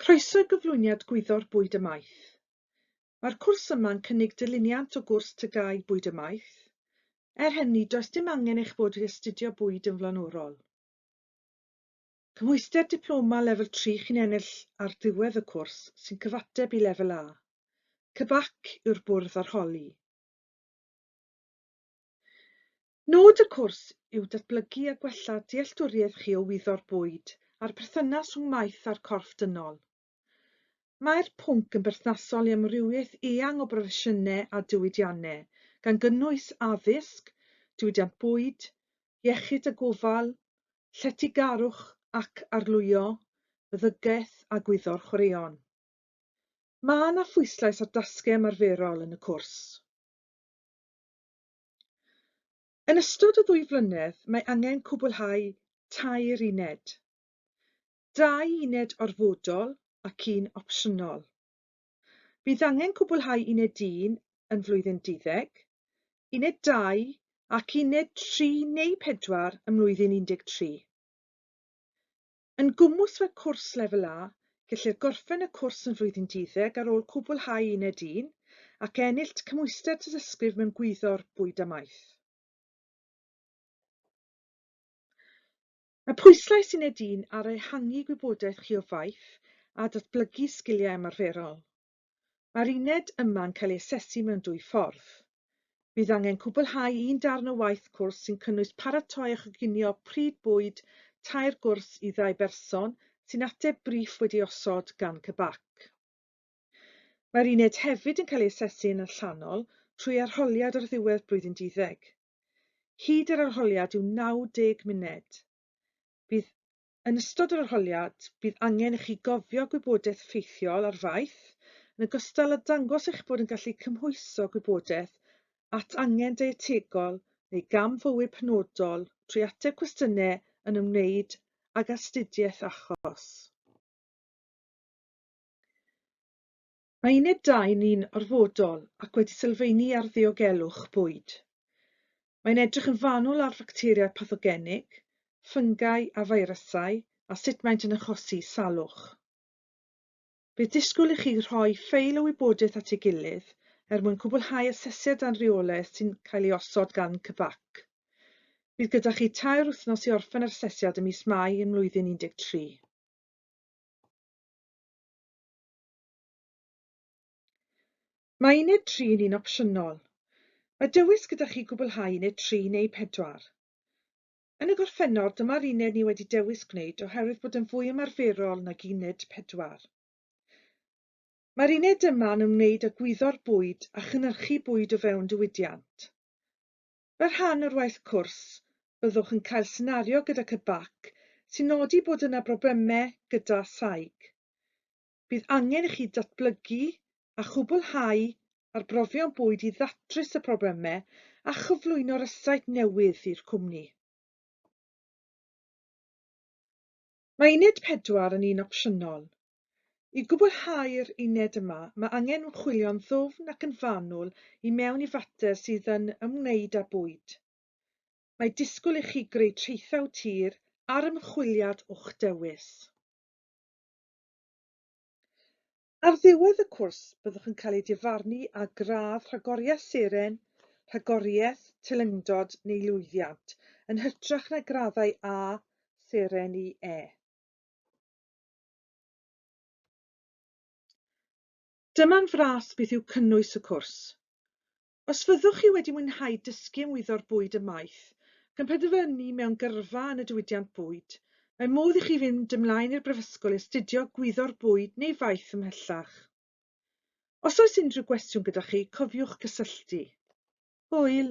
Croeso i gyflwyniad Gwyddor Bwyd a Maeth. Mae'r cwrs yma'n cynnig dilyniant o gwrs TGAU Bwyd a Maeth. Er hynny, does dim angen eich bod wedi astudio bwyd yn flaenorol. Cymhwyster Diploma Lefel Tri chi'n ennill ar ddiwedd y cwrs sy'n cyfateb i Lefel A. CBAC yw'r bwrdd arholi. Nod y cwrs yw datblygu a gwella dealltwriaeth chi o wyddo'r bwyd a'r perthynas rhwng maeth a'r corff dynol. Mae'r pwnc yn berthnasol i amrywiaeth eang o broffesiynau a diwydiannau, gan gynnwys addysg, diwydiant bwyd, iechyd a gofal, lletygarwch ac arlwyo, meddygaeth a gwyddor chwaraeon. Mae yna phwyslais ar dasgau ymarferol yn y cwrs. Yn ystod y ddwy flynedd mae angen cwblhau tair uned, dau uned orfodol ac un opsiynol. Bydd angen cwblhau uned un yn flwyddyn duddeg, uned dau ac uned tri neu pedwar ym mlwyddyn 13. Yn gwmws fel cwrs Lefel A, gellir gorffen y cwrs yn flwyddyn duddeg ar ôl cwblhau Uned Un ac ennillt cymhwyster tystysgrif mewn Gwyddor Bwyd a Maeth. Mae pwyslais Uned Un ar ehangu gwybodaeth chi o faeth a datblygu sgiliau ymarferol. Mae'r uned yma'n cael ei asesu mewn dwy ffordd. Bydd angen cwblhau un darn o waith cwrs sy'n cynnwys paratoi a choginio pryd bwyd tair gwrs i ddau berson sy'n ateb briff wedi osod gan CBAC. Mae'r uned hefyd yn cael ei asesu yn allanol trwy arholiad ar ddiwedd blwyddyn duddeg. Hyd yr arholiad yw 90 munud. Bydd Yn ystod yr arholiad, bydd angen i chi gofio gwybodaeth effeithiol ar faeth, yn ogystal â dangos eich bod yn gallu cymhwyso gwybodaeth at angen deietegol neu gam fywyd penodol trwy ateb cwestiynau yn ymwneud ag astudiaeth achos. Mae uned dau ni'n orfodol ac wedi sylfaenu ar ddiogelwch bwyd. Mae'n edrych yn fanwl ar facteriau pathogenig, ffyngau a feirysau a sut maent yn achosi salwch. Bydd disgwyl i chi rhoi ffeil o wybodaeth at ei gilydd er mwyn cwblhau asesiad a'n rheolaeth sy'n cael ei osod gan CBAC. Bydd gyda chi tair wythnos i orffen yr asesiad ym mis Mai yn mlwyddyn 13. Mae uned tri yn un opsiynol. Mae dewis gyda chi gwblhau uned tri neu pedwar. Yn y gorffennol, dyma'r uned ni wedi dewis gwneud oherwydd bod yn fwy ymarferol nag uned pedwar. Mae'r uned yma yn ymwneud â gwyddo'r bwyd a chynyrchu bwyd o fewn diwydiant. Fel rhan o'r waith cwrs, byddwch yn cael senario gyda CBAC sy'n nodi bod yna broblemau gyda saig. bydd angen i chi datblygu a chwblhau arbrofion bwyd i ddatrys y problemau a chyflwyno rysáit newydd i'r cwmni. Mae Uned 4 yn un opsiynol. I gwblhau'r uned yma, mae angen ymchwilio'n ddwfn ac yn fanwl i mewn i fater sydd yn ymwneud â bwyd. Mae disgwyl i chi greu traethau tir ar ymchwiliad o'ch dewis. Ar ddiwedd y cwrs byddwch yn cael ei difarnu â gradd Rhagoriaeth Seren, Rhagoriaeth, Teilyngdod neu Lwyddiant, yn hytrach na graddau A, Seren i E. Dyma'n fras beth yw cynnwys y cwrs. Os fyddwch chi wedi mwynhau dysgu am wyddor bwyd ymaith, ac yn penderfynu mewn gyrfa yn y diwydiant bwyd, mae modd i chi fynd ymlaen i'r Brifysgol i astudio Gwyddor Bwyd neu faith ymhellach. Os oes unrhyw gwestiwn gyda chi, cofiwch gysylltu. Hwyl!